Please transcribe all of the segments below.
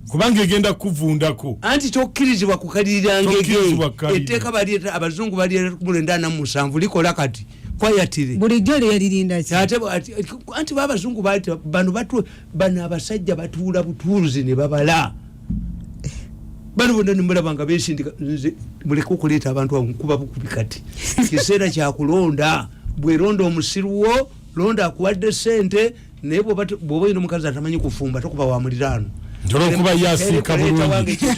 kubanga egenda kuvundako anti tokkirizibwa kukalirira ngege etteeka baleeta abazungu baleeta kumulenda ana musanvu likola kati kwayatire bulijjo lyeririnda ki anti babazungu bano batu bano abasajja batuula butuuzi ne babala bano bona nemulaba nga besindika nze muleke okuleeta abantu awo nkuba bukubi kati kiseera kyakulonda bweronda omusiruwo londa akuwadde sente naye bwoba oyina omukazi atamanyi kufumba tokuba wa muliraano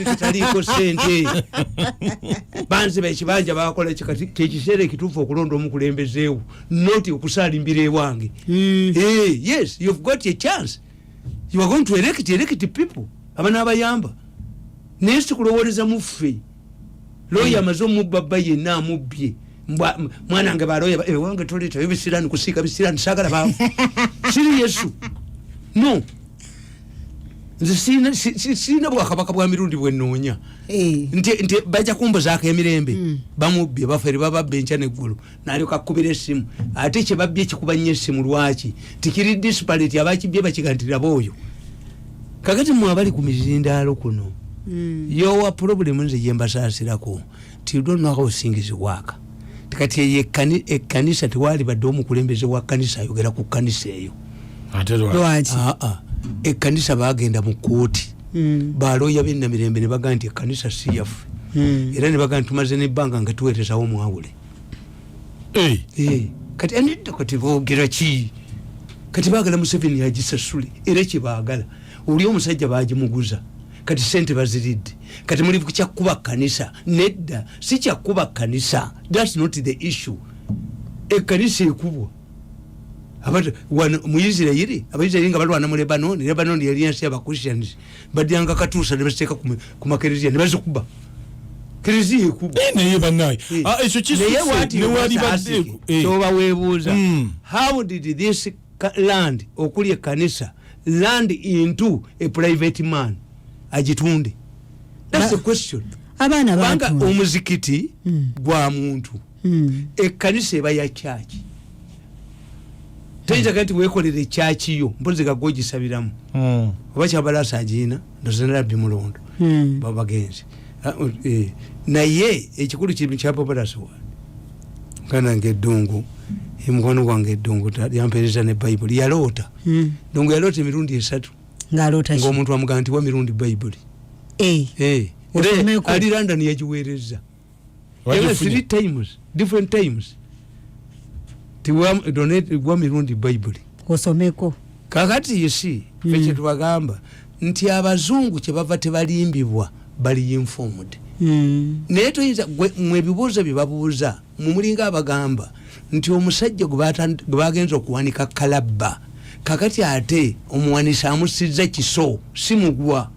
kitaliiko sente banziba ekibanja bakola kyekiseera ekituufu okulonda omukulembezeewo not okusalimbira ewange mm. hey, eh, yes you've got a chance you are going to elect elect people abana abayamba naye sikulowoleza muffe loya amaze omubba bba yenna amubbye mwana nge baloya ewange eh, toletayo bisirani kusiika bisirani sagala baamu siri yesu no nze sirina bwakabaka bwa mirundi bwenoonya eh. nti baja kumbuzaako emirembe hmm. bamubbye bafere bababba enkya neggulu nalyoka akubira esimu ate kyebabbye kikuba nnyo esimu lwaki tikiri disparate abakibbye bakigantiraba oyo kakati mwe abali ku mizindaalo kuno mm. yowa problemu nze gyembasaasirako tidonwakaosingiziwaaka kati eyo ekkanisa tewali badde omukulembeze wa kkanisa ayogera ku kkanisa eyo ekkanisa bagenda mu kooti hmm. baloya benamirembe nebaga nti ekkanisa siyaffe hmm. era nebaga nti tumaze nebbanga nga tuwerezawo mwawule eh. Eh, kati anidda kati bogera ki kati bagala museveni agisasule era kyebagala oli omusajja bagimuguza kati sente baziridde kati muli kyakkuba kanisa nedda si kyakkuba kanisa thats not the issue ekanisa ekubwa muisirairi abaisirairi nga balwana mu lebanon lebanon yali ensi yabachristians badyanga katuusa nebaziteeka ku makereziya nebazikuba kereziya ekuba eh, naye banaye eh. ah, ekyo kisnewalibadde eh. kyoba webuuza hmm. how did this land okuli ekanisa land into a private man agitunde that's the question abaana bantu omuzikiti hmm. gwa muntu hmm. ekkanisa eba ya kyaki teyinza kati wekolera ekyaki yo mpozi gagwa ogisabiramu hmm. oba kyabalasa agiina ndozenalabbi mulondo hmm. babagenzi ah, oh, eh. naye ekikulu kimu kyababalasa wa kanange eddungu emukwano gwange eddungu yampereza ne bayibuli yaloota ndungu yaloota emirundi esatu ngaomuntu amugaa nti wa mirundi bayibuli eh. Eh. ali london yagiweereza three times different times tiwa mirundi bayibuli osomeko kakati yisi mm. fe kyetubagamba nti abazungu kyebava tebalimbibwa bali informed mm. naye toyinza mwe ebibuuzo bye babuuza mumulinga abagamba nti omusajja gwe bagenza okuwanika kalabba kakati ate omuwanisa amusiza kiso simugwa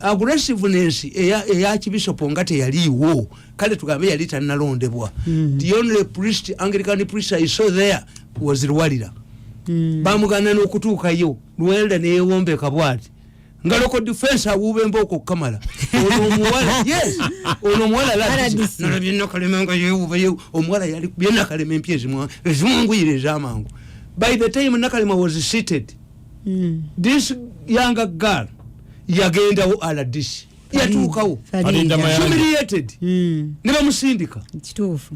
aggressiveness eya, eya kibisopo nga teyaliiwo kale tugambe yali tanalondebwa mm. the only priest anglican priest i saw there was lwalira mm. bamugana n'okutuukayo lwelda neyewombeka bwati nga loko defense awuba embooko okukamala ono omuwala yes ono omuwala lalabyebyenakalema nga yewuba omuwala yali byenakalema empya ezimwanguyire ezamangu by the time nakalema was seated mm. this younger girl yagendawo aladish yatuukawo humiliated mm. ne bamusindika kituufu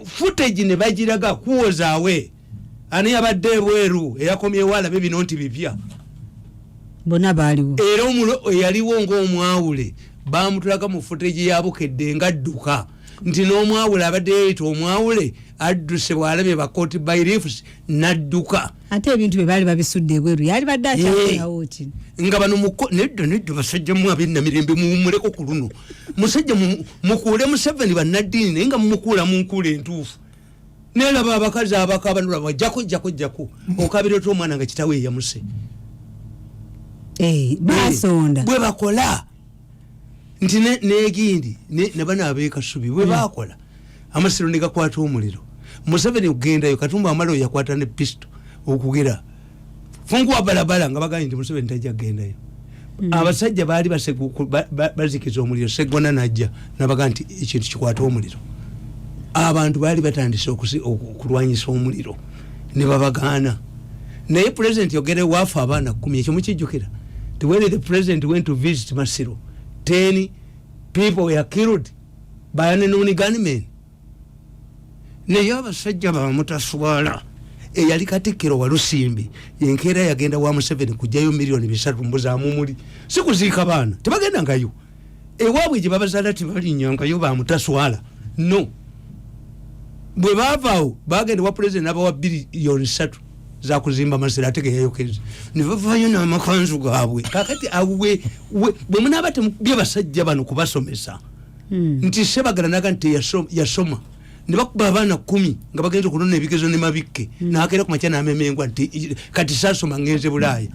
footage ne bagiraga kuwozaawe ani yabadde ebweru eyakomyewo alabe bino nti bipya bona baaliwo era eyaliwo ngaomwawule bamutulaga mu footage yabukedde nga dduka nti n'omwawule abadde yeyita omwawule adduse bwalabye bakoti bairifs nadduka ate ebintu bye baali babisudde ebweru yali badde akyaawo ki nga bano nedda nedda basajja mu abinna mirembe muwumuleko ku luno musajja mukuule museveni bannaddiini naye nga mumukuula mu nkuula entuufu nelaba abakazi abakabanula bajjako jjako jjako okabira oti omwana nga kitawe eyamuse eh, basonda bwe bakola nti negindi nabana abekasubi bwebakola hmm. amasiro negakwata omuliro museveni okugendayo katumba amala oyakwata ne pisto okugera funkuwa balabala nga bagambye nti museveni tajja kugendayo hmm. abasajja baali bazikiza omuliro segona najja nabaga nti ekintu kikwata omuliro abantu baali batandise okulwanyisa omuliro ne babagaana naye pulezidenti yogere waafa abaana kumi ekyo mukijjukira ti when the president went to visit masiro ten people were killed by an unknown gunmen naye abasajja bamutaswala eyali katikkiro walusimbi enkeera yagenda wa museveni kujjayo miliyoni bisatu mbuzamumuli sikuziika baana tebagenda ngayo ewabwe gye babazala tebalinyangayo bamutaswala no bwe bavaawo bagenda wa pulezidenti nabawa biriyoni satu zakuzimba masira ate geyayokeza nebavayo namakanzu gabwe kakati awe bwe munaaba bye basajja bano kubasomesa hmm. nti sebagala naga nti yasoma ne bakuba abaana kumi nga bagenze okunona ebigezo ne mabikke mm. nakeera ku makya namemengwa nti kati sasoma ngenze bulaaya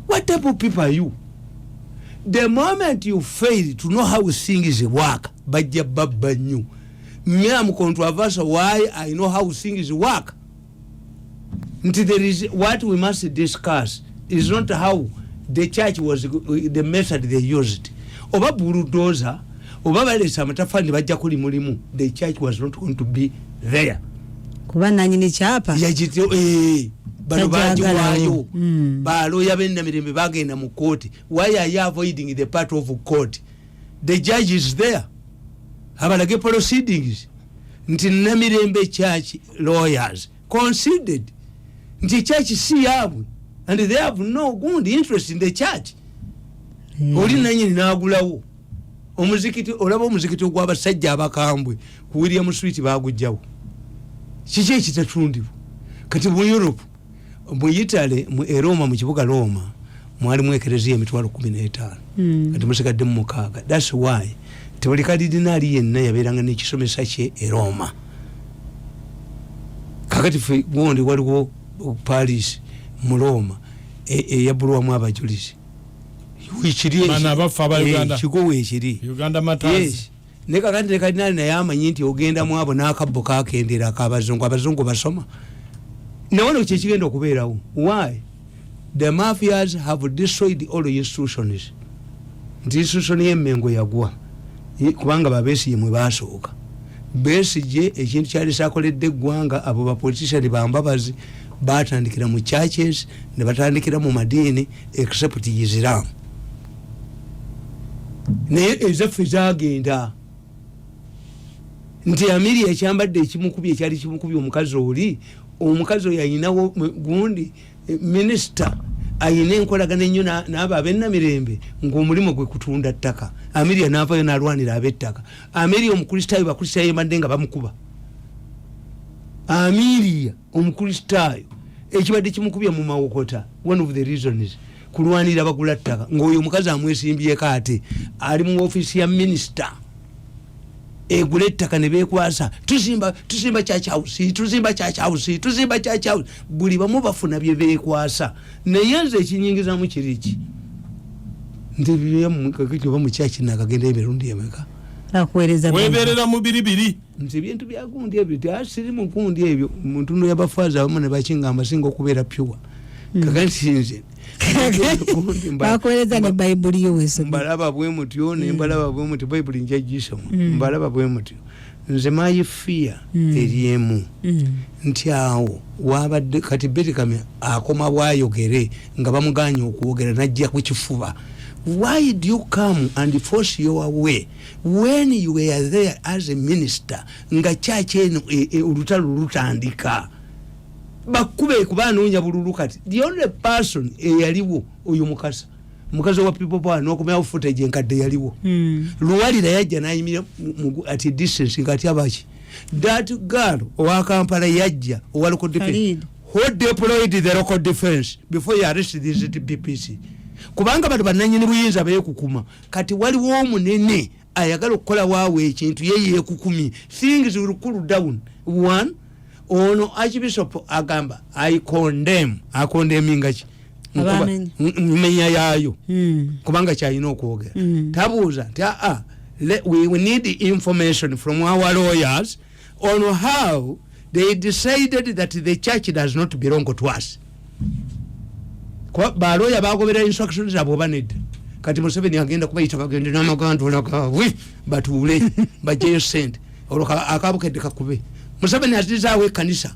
what type of people are you the moment you fail to know how sing is work bajja babba nnyo me am controversial why i know how sing is work nti there is what we must discuss is not how the church was the method they used oba buludoza oba balesa amatafali nebajja kuli mulimu the church was not going to be there kuba nanyini kyapa yagityo eh, bano bagiwayo hmm. baloya benamirembe bagenda mu kooti why are you avoiding the part of court the judge is there abalage proceedings nti namirembe church lawyers considered nti church si yaabwe and they have no good interest in the church hmm. oli nanyini nagulawo omuzikiti olaba omuzikiti ogwabasajja abakambwe ku william street bagujjawo kiki ekitatundibwa kati mu europe mu itale mu eroma mu kibuga roma mwali mwekereziya emitwalo kumi n'etaano hmm. kati musigadde mu mukaaga thats why nti buli kalidinaali yenna yabeeranga nekisomesa kye eroma kakati fe gundi waliwo paris mu roma eyabulwamu e abajulizi ekiriekigowa ekiri ne kakati ne kadinali naye amanyi nti ogenda mu abo n'akabbo kakendera akabazungu abazungu basoma nawe no kyekigenda okubeerawo why the mafias have destroyed all institutions nti institution y'emengo yagwa kubanga babesiye mwe basooka besigye ekintu kyali sakoledde eggwanga abo bapolitician bambabazi batandikira mu churches ne batandikira mu madiini except isiramu naye ezaffe zagenda nti amiri ekyambadde ekimukubye ekyali kimukubye omukazi oli omukazi oyo ayinawo gundi eh, minisita ayina enkolagana ennyo naabo abenamirembe ngaomulimu gwe kutunda ttaka amiria naavayo nalwanira abettaka amiria omukristaayo bakristaayo ebadde nga bamukuba amiria omukristaayo ekibadde kimukubya mu mawokota one of the reasons kulwanira bagula ttaka ngaoyo omukazi amwesimbyeko ate ali mu ofiisi ya minisita egula ettaka ne bekwasa tuzimba tuzimba kyakyabusi tuzimba kyakyabusi tuzimba kyakyabusi buli bamu bafuna bye bekwasa naye nze ekinyingizamu kiri ki nti byemukakiba mukyakinaakagendayo emirundi emeka nakuweereza weebeerera mu biri biri nze ebintu byagundi ebyo teasiri mukundi ebyo muntuno yabafaaza abamu nebakingamba singa okubeera pure hmm. kakansinze bakuwereza ne bayibuli yo wesoma mbalaba bwe mutyo ne hmm. mbalaba bwe mutyo bayibuli nja gisoma hmm. mbalaba bwe mutyo nze mayi fiya eri emu nti awo wabadde kati betikami akoma bwayogere nga bamuganya okwogera najja ku kifuba why do you come and force your way when you were there as a minister nga church eno e, e, olutalo lutandika bakube kuba anoonya bululu kati the only person eyaliwo oyo mukasa mukazi wa people power nokumawo footage enkadde yaliwo hmm. luwalira yajja nayimira at distance ngati abaki that girl owa kampala yajja owa local defense who deployed the local defense before you arrest these dpc kubanga bano bananyini buyinza beyekukuma kati waliwo omunene ayagala okukola waawo ekintu ye yekukumye things will cool down one ono archbishop agamba i condemn akondemingaki menya yaayo hmm. kubanga kyalina okwogera hmm. tabuuza nti aa ah, ah, we need information from our lawyers mm. on how they decided that the church does not belong to us baloya bagobera instruction zabwe oba nedda kati museveni agenda kubayita bagende namagandula gabwe batuule bajeyo sente olwo akabukedde kakube museveni azizaawo ekanisa